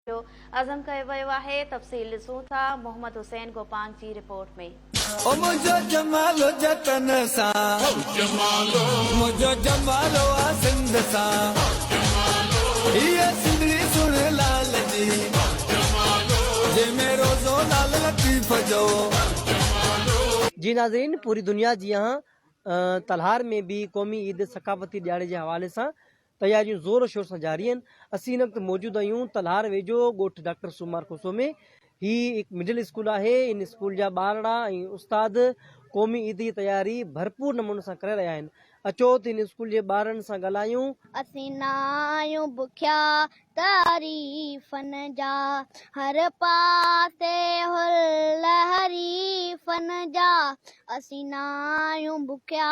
جو عزم ڪيو ويو آهي تفصيل ڏسون ٿا محمد حسين گوپانگ جي رپورٽ ۾. او منهنجو جمالو جتن سان منهنجو جمالو آ سنڌ سان هيء سنڌڙي سڻ لال جي جنهن ۾ روزو لال لطيف جو. جي ناظرين پوري دنيا جيان تلهار ۾ به قومي عيد ثقافتي ڏيهاڙي جي حوالي سان تياريون زور شور سان جاري آهن اسين هن وقت موجود آهيون تلهار ويجهو ڳوٺ ڊاڪٽر سومار کوسو ۾ هي هڪ مڊل اسڪول آهي ان اسڪول جا ٻارڙا ۽ استاد قومي عيد جي تياري ڀرپور نموني سان ڪري رهيا آهن اچو ته ان اسڪول جي ٻارڙن سان ڳالهايون. اسين نه آهيون بکيا تعريفن جا هر پاسي هل حريفن جا اسين نه آهيون بکيا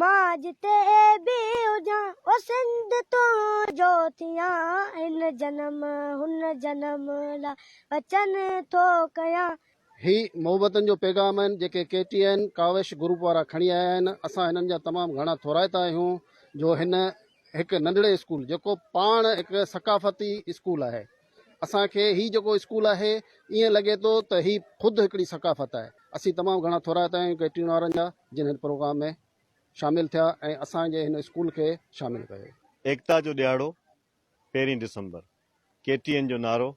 مان جتي به هجان او سنڌ تنهنجو ٿيان هن جنم هن جنم لا وچن ٿو ڪيان. هي محبتن جو پيغام آهن جيڪي K T N Kawish group وارا کڻي آيا آهن اسان هنن جا تمام گهڻا ٿورائتا آهيون جو هن هڪ ننڍڙي اسڪول جيڪو پاڻ هڪ ثقافتي اسڪول آهي. اسان کي هي جيڪو اسڪول آهي ائين لڳي ٿو ته هي خود هڪڙي ثقافت آهي. اسين تمام گهڻا ٿورائتا آهيون ڪيٽرين وارن جا جن هن پروگرام ۾ شامل ٿيا ۽ اسان جي هن اسڪول کي شامل ڪيو. ايڪتا جو ڏهاڙو پهرين ڊسمبر ڪي ٽي اين جو نعرو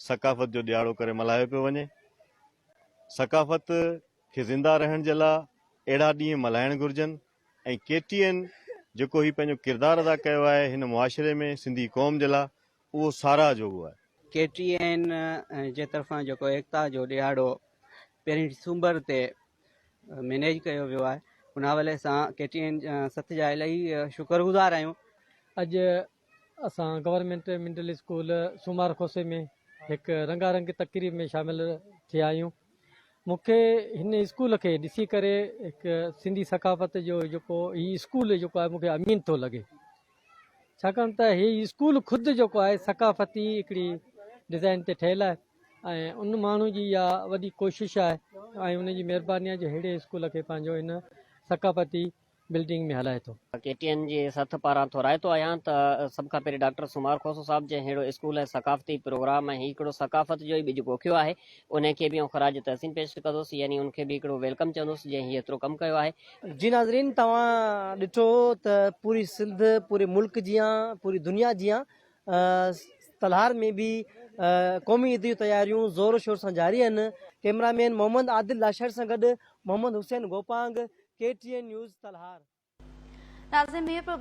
ثقافت جو ڏهاڙو ڪري ملهايو پيو وڃي. ثقافت کي زنده رهڻ جي لا اهڙا ڏينهن ملهائڻ گهرجن ۽ ڪي ٽي اين جيڪو هي پنهنجو ڪردار ادا ڪيو آهي هن معاشري ۾ سنڌي قوم جي لا اهو ساراهه جوڳو آهي. ڪي ٽي اين جي طرفان جيڪو ايڪتا جو ڏهاڙو پهرين ڊسمبر تي مينيج ڪيو ويو آهي ان حوالي سان ڪي ٽي اين سٿ جا الائي شڪرگذار آهيون. اڄ اسان government middle school Somar Khoso ۾ هڪ رنگا رنگ تقريب ۾ شامل ٿيا آهيون. مون کي هن اسڪول کي ڏسي ڪري هڪ سنڌي ثقافت جو جيڪو هي اسڪول جيڪو آهي مون کي امين ٿو لڳي. ڇاڪاڻ ته هي اسڪول خود جيڪو آهي ثقافتي هڪڙي ڊيزائن تي ٺهيل آهي ۽ ان ماڻهو جي اها وڏي ڪوشش آهي ۽ ان جي مهرباني آهي جو ههڙي اسڪول کي پنهنجو هن ثقافتي بلڊنگ ۾ هلائي ٿو. ڪي ٽي اين جي سٿ پاران ٿورائي ٿو آهيان ته سڀ کان پهرين ڊاڪٽر سومار کوسو صاحب جنهن ههڙو اسڪول ۽ ثقافتي پروگرام ۽ هڪڙو ثقافت جو ئي ٻج پوکيو آهي انهي کي به آئون خراج تحسين پيش ڪندس يعني ان کي به هڪڙو ويلڪم چوندس جنهن هي ايترو ڪم ڪيو آهي جي ناظرين توهان ڏٺو ته پوري سنڌ پوري ملڪ جيان پوري دنيا جيان تلهار ۾ به قومي عيد جون تياريون زور شور سان جاري آهن ڪيمرا مين محمد عادل لاشر سان گڏ Muhammad Hussain Gopang K T N news Talhar ناظرين ميرپور